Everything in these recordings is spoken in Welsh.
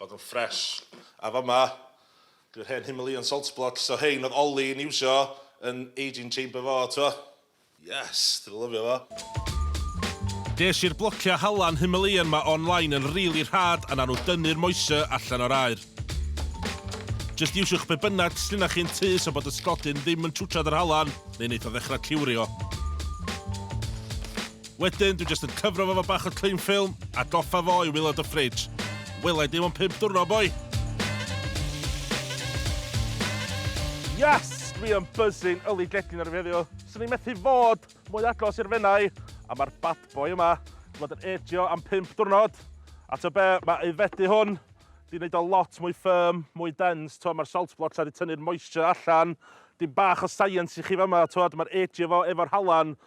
bod yn fresh. A fama, dyw'r hen Himalayan salt blocks, so rhein oedd Ollie yn iwsio yn aging chamber fo, t'mo'. Yes! Dwi 'di lyfio fo. Ges i'r blociau halan Himalayan 'ma online yn rili rhad a nawn nhw dynnu'r moisture allan o'r aer. Jyst iwsiwch be bynnag sgynnoch chi'n tŷ so bod y sgodyn ddim yn twtsiad yr halan neu neith o ddechrau cliwrio. Wedyn, dwi jyst yn cyfro fo fo bach o cling film, a goffa fo i wylod y fridge. Wela i dim ond pimp dwrno, boi! Yes! Dwi yn buzzing yli gegin ar y heddiw. Swn i'n methu fod mwy agos i'r fenau, a mae'r bad boy yma wedi bod yn egio am pimp dwrnod. A to be, mae aeddfedu hwn di wneud o lot mwy firm, mwy dense, to mae'r salt blocks wedi tynnu'r moisture allan. Dim bach o science i chi fama, to mae'r egio fo efo'r halan,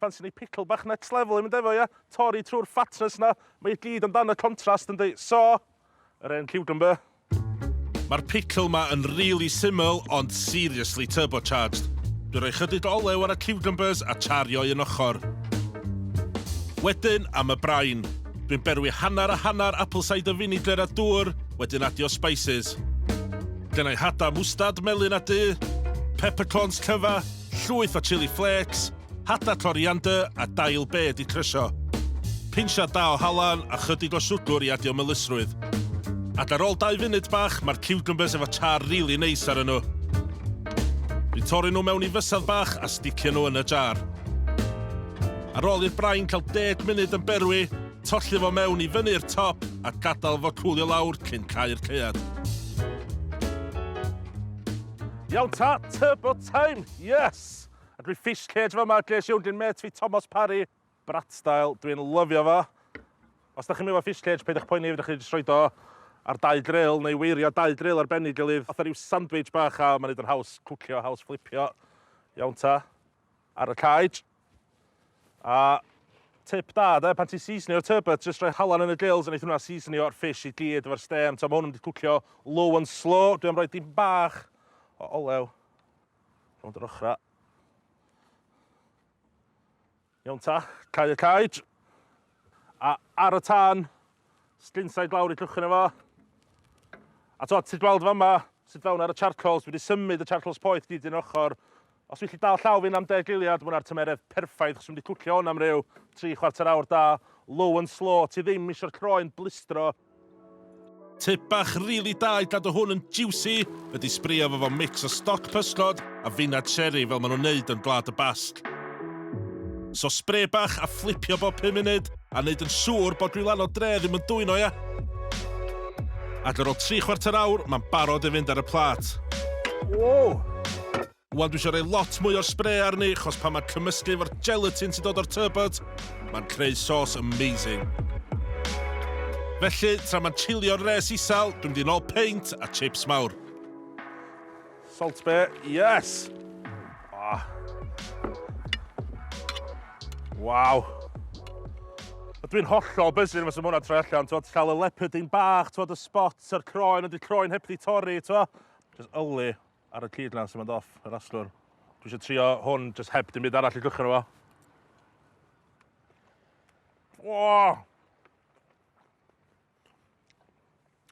Pan sy'n ei pickle bach next level i mynd efo ia? Torri trwy'r fatness 'na. Mae i gyd amdan y contrast yndi? So, yr hen cucumber. Ma'r pickle 'ma yn rili syml ond seriously turbocharged. Dwi roi chydig o olew ar y cucumbers a chario un ochr. Wedyn am y brain. Dwi'n berwi hanner a hanner apple cider vinegar a dŵr, wedyn adio spices. Gennai hada mwstard melyn a du, peppercorns cyfa, Llwyth o chili flakes, hada coriander a dail be di crysio. Pinsiad da o halan a chydig o siwgwr i adio melysrwydd. Ac ar ôl dau funud bach mae'r ciwcymbyrs efo char rili neis arnyn nhw. Dwi'n torri nhw mewn i fysedd bach a sticio nhw yn y jar. Ar ôl i'r brain cael deg munud yn berwi, tolli fo mewn i fyny i'r top a gadael fo cwlio lawr cyn cau'r caead. Iawn ta, tŷ bwt! Time! Yes! A dwi fish cage fama, ges i 'wn gin mêt fi Tomos Parry. Brat style, dwi'n lyfio fo. Os da chi'm efo fish cage, peidiwch poeni, fedrwch chi jyst roid o ar dau dril, neu weirio dau dril ar ben ei gilydd, fatha ryw sandwich bach, a ma'n neud o'n haws cwcio, haws fflipio. Iawn ta. Ar y cage. A tip da de, pan ti'n seasonio'r turbot, jyst rhoi halan yn y grills a neith hwnna seasonio'r fish i gyd efo'r stêm. T'o' ma' hwn yn mynd i cwcio low and slow. Dwi am roi dipyn bach o olew rownd yr ochra'. Iawn ta, cau y cage. A ar y tân, Sglinsa i glawr i llwch yna fo. A to, ti'n gweld fa yma, sydd fewn ar y charcoals, wedi symud y charcoals poeth gyd yn ochr. Os wyt ti dal llaw fi'n am deg giliad, mwna'r tymeredd perffaith, chos wedi cwcio hwn am ryw tri chwarter awr da, low and slow, ti ddim eisiau'r croen blistro. Tip bach rili really da i gadw hwn yn juicy ydy sbrio fo fo mix o stoc pysgod a fina cherry fel maen nhw'n neud yn Gwlad y Basg. So spray bach a fflipio bob 5 munud, A wneud yn siŵr bod gwylan o dre ddim yn dwyno, ia? Ac ar ôl tri chwarter awr, mae'n barod i fynd ar y plat. Wow! Wan dwi eisiau rhoi lot mwy o'r spray arni, chos pan mae'n cymysgu efo'r gelatin sy'n dod o'r turbot, mae'n creu sauce amazing. Felly, tra mae'n chilio'r res isel, dwi'n mynd i'n ôl peint a chips mawr. Salt be, yes! Ah. Waw. Dwi'n hollol bysyn fes ymwna troi allan, twod, cael y leopard yn bach, twod, y spot, a'r croen, ond y croen heb di torri, twod. Just yli ar y cyd lan sy'n mynd off, yr aslwr. Dwi eisiau trio hwn, just heb dim byd arall i gychwyn efo. Wow!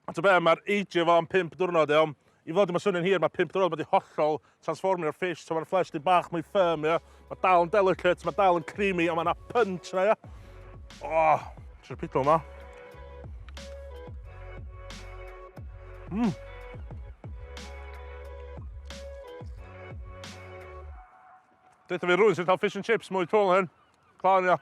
A ta be, mae'r ageio fo am 5 diwrnod, iawn? I fod yma swnio'n hir, mae 5 diwrnod wedi hollol transformio'r fish, so mae'r flesh di bach mwy firm, ia? Mae dal yn delicate, mae dal yn creamy, ond mae yna punch yna, ia? Oh, ti'n pido yma. Mmm. Dweud fi rwy'n sy'n cael fish and chips mwy twl hyn. Clawn, ia.